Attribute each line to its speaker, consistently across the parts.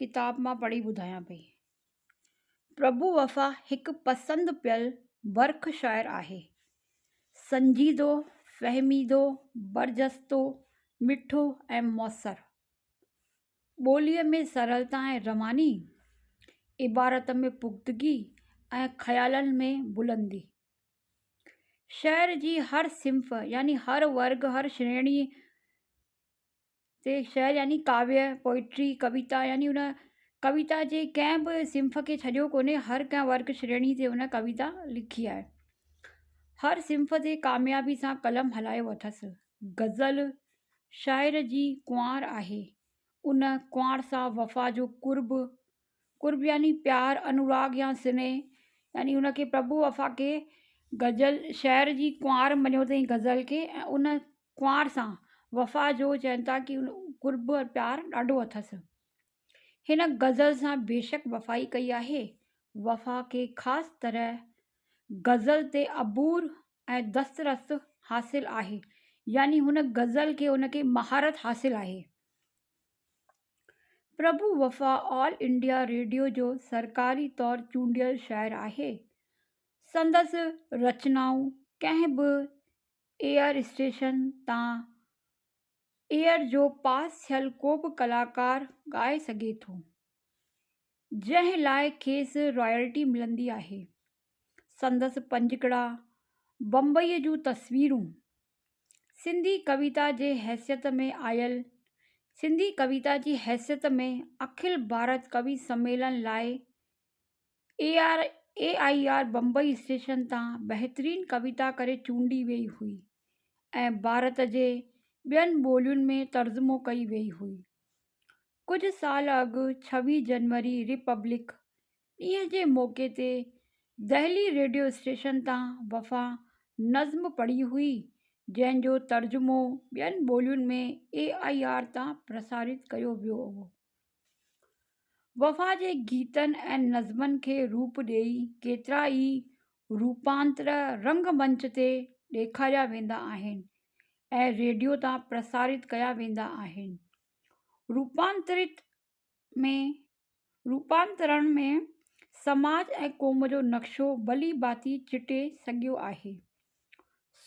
Speaker 1: ڪتاب مان پڙهي ٻڌايان پئي. پرڀو وفا هڪ پسند پيل برک شاعر آهي. سنجيدو، فهميدو، برجستو، مٺو ۽ موثر. ٻوليء ۾ سرلتا ۽ رواني، عبارت ۾ پختگي ۽ خيالن ۾ بلندي. شعر جي هر صنف يعني هر ورگ، هر شريڻي، تي شعر يعني ڪاويء، Poetry، ڪويتا يعني ان ڪويتا جي ڪنهن به صنف کي ڇڏيو ڪونهي، هر ڪنهن ورگ شريڻي تي هن ڪويتا لکي آهي. هر صنف تي ڪاميابي سان قلم هلايو اٿس. غزل شاعر جي ڪنوار آهي. ان ڪنوار سان وفا جو قرب، قرب يعني پيار، انوراگ يا سنيهه يعني ان کي پرڀو وفا کي غزل شاعر جي ڪنوار مڃيو اٿئي غزل کي ۽ ان ڪنوار سان وفا جو چين ٿا ڪي قرب ۽ پيار ڏاڍو اٿس هن غزل سان بيشڪ وفا ئي ڪئي آهي وفا کي خاص طرح غزل تي عبور ۽ دسترس حاصل آهي يعني هن غزل کي ان کي مهارت حاصل آهي Prabhu Wafa All India Radio جو سرڪاري طور چونڊيل شاعر آهي سندس رچنائون ڪنهن به ايئر اسٽيشن تان ايئر جو پاس ٿيل ڪو به ڪلاڪار ڳائي سگهي ٿو جنهن لاء کيس رائلٽي ملندي آهي سندس پنجڪڙا بمبئي جون تصويرون سنڌي ڪويتا جي حيثيت ۾ آيل سنڌي ڪويتا جي حيثيت ۾ اکل ڀارت ڪوي سميلن لاء A R A I R Bombay station تان بهترين ڪويتا ڪري چونڊي وئي هئي ۽ ڀارت جي ٻين ٻولين ۾ ترجمو ڪئي وئي هئي ڪجهه سال اڳ ڇويهه جنوري ريپبلڪ ڏينهن جي موقعي تي دهلي ريڊيو اسٽيشن تان وفا نظم پڙهي هئي جنهن جو ترجمو ٻين ٻولين ۾ اي آئي آر تان پرسارت ڪيو ويو هو وفا جي گيتن ۽ نظمن کي روپ ڏيئي ڪيترا ئي روپانتر رنگ منچ تي ڏيکاريا ويندا آهن ۽ ريڊيو تان پرسارت ڪيا ويندا آهن روپانترت ۾ روپانترڻ ۾ سماج ۽ قوم جو نقشو ڀلي ڀاتي چٽي سگهيو آهي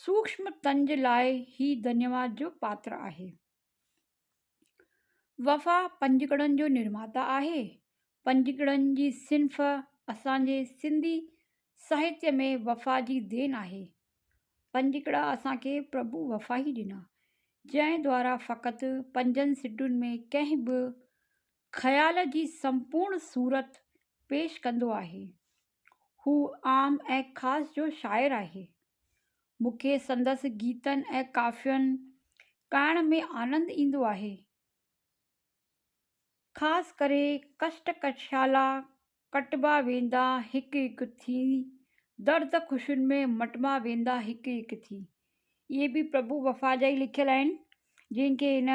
Speaker 1: سوڪشم تن جي لاء هي ڌنيواد جو پاتر آهي وفا پنجڪڙن جو نرماتا آهي. پنجڪڙن جي صنف اسان جي سنڌي ساهتيه ۾ وفا جي دين آهي. پنجڪڙا اسان کي پرڀو وفا ئي ڏنا. جنهن دوارا فقط پنجن سٽن ۾ ڪنهن به خيال جي سمپورڻ صورت پيش ڪندو آهي. هو عام ۽ خاص جو شاعر آهي. مون کي سندس گيتن ۽ ڪافين ڳائڻ ۾ آنند ايندو آهي. خاص ڪري ڪشٽ ڪشالا ڪٽبا ويندا هڪ هڪ ٿي، درد خوشين ۾ مٽبا ويندا هڪ هڪ ٿي. اهي به پرڀو وفا جا ئي لکيل آهن جن کي هن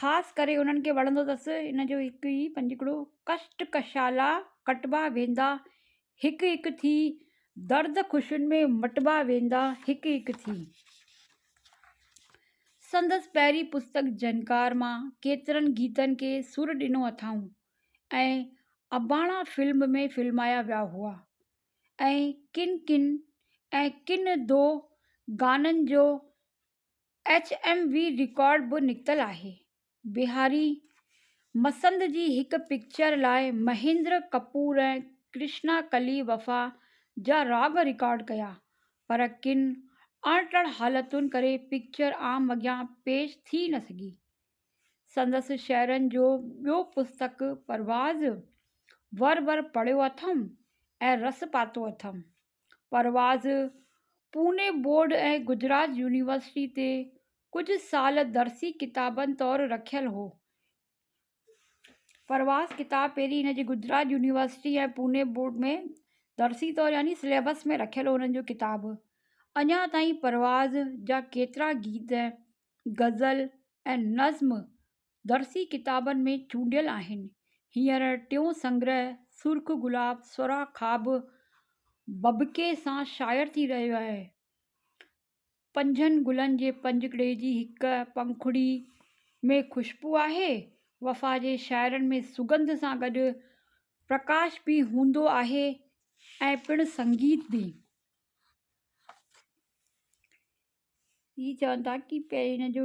Speaker 1: خاص ڪري انهن کي وڻندو اٿس ان جو هڪ ئي پنجڪڙو ڪشٽ ڪشالا ڪٽبا ويندا هڪ هڪ ٿي درد خوشين ۾ مٽبا ويندا هڪ هڪ ٿي. سندس پهرين پستڪ جهنڪار مان ڪيترن گيتن کي سر ڏنو اٿائون ۽ اباڻا فلم ۾ فلمايا ويا هئا ۽ ڪن ڪن ۽ ڪن دو گانن جو ايڇ ايم وي رڪارڊ به نڪتل آهي. بهاري مسند جي هڪ پڪچر لاء مهيندر ڪپور ۽ ڪرشنا ڪلي وفا جا راڳ رڪارڊ ڪيا پر ڪن اڻٽر حالتن ڪري پڪچر عام اڳيان پيش ٿي نه سگهي. سندس شعرن جو ٻيو پستڪ پرواز ور ور پڙهيو اٿم ۽ رس پاتو اٿم. پرواز پوني بورڊ ۽ گجرات يونيورسٽي تي ڪجهه سال درسي ڪتابن طور رکيل هو پرواز ڪتاب پهرين هن جي گجرات يونيورسٽي ۽ پوني بورڊ ۾ درسي طور يعني سليبس ۾ رکيل هو هن جو ڪتاب اڃا تائين پرواز جا ڪيترا گيت غزل ۽ نظم درسي ڪتابن ۾ چونڊيل آهن. هينئر ٽيون سنگرهه سرخ گلاب سرا خواب ڀڀڪي سان شايع ٿي رهيو آهي. پنجن گلن جي پنجڪڙي جي هڪ پنکڙي ۾ خوشبو آهي. وفا جي شاعرن ۾ سگنڌ سان گڏ پرڪاش به هوندو آهي ۽ پڻ سنگيت به. هي چون ٿا ته هن جو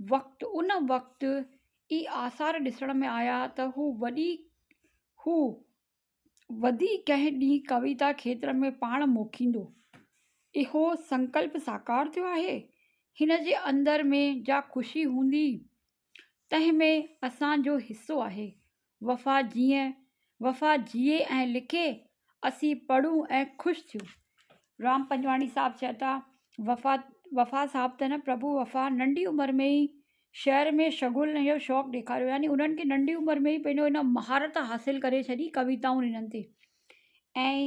Speaker 1: وقت ان وقت ئي آثار ڏسڻ ۾ آيا ته هو وڏي هو وڌي ڪنهن ڏينهن ڪويتا کيتر ۾ پاڻ موکيندو اهو سنڪلپ ساڪار ٿيو آهي هن جي اندر ۾ جا خوشي هوندي تنهن ۾ اسان جو حصو آهي وفا جيئي، وفا جيئي ۽ لکي، اسين پڙهون ۽ خوش ٿيون. رام پنجواڻي صاحب چئن ٿا، وفا وفا صاحب ته نه پرڀو وفا ننڍي عمر ۾ ئي شعر ۾ شغل ۽ اهو شوق ڏيکاريو يعني انهن کي ننڍي عمر ۾ ئي پنهنجو ان مهارت حاصل ڪري ڇڏي ڪويتائون ڏنن تي ۽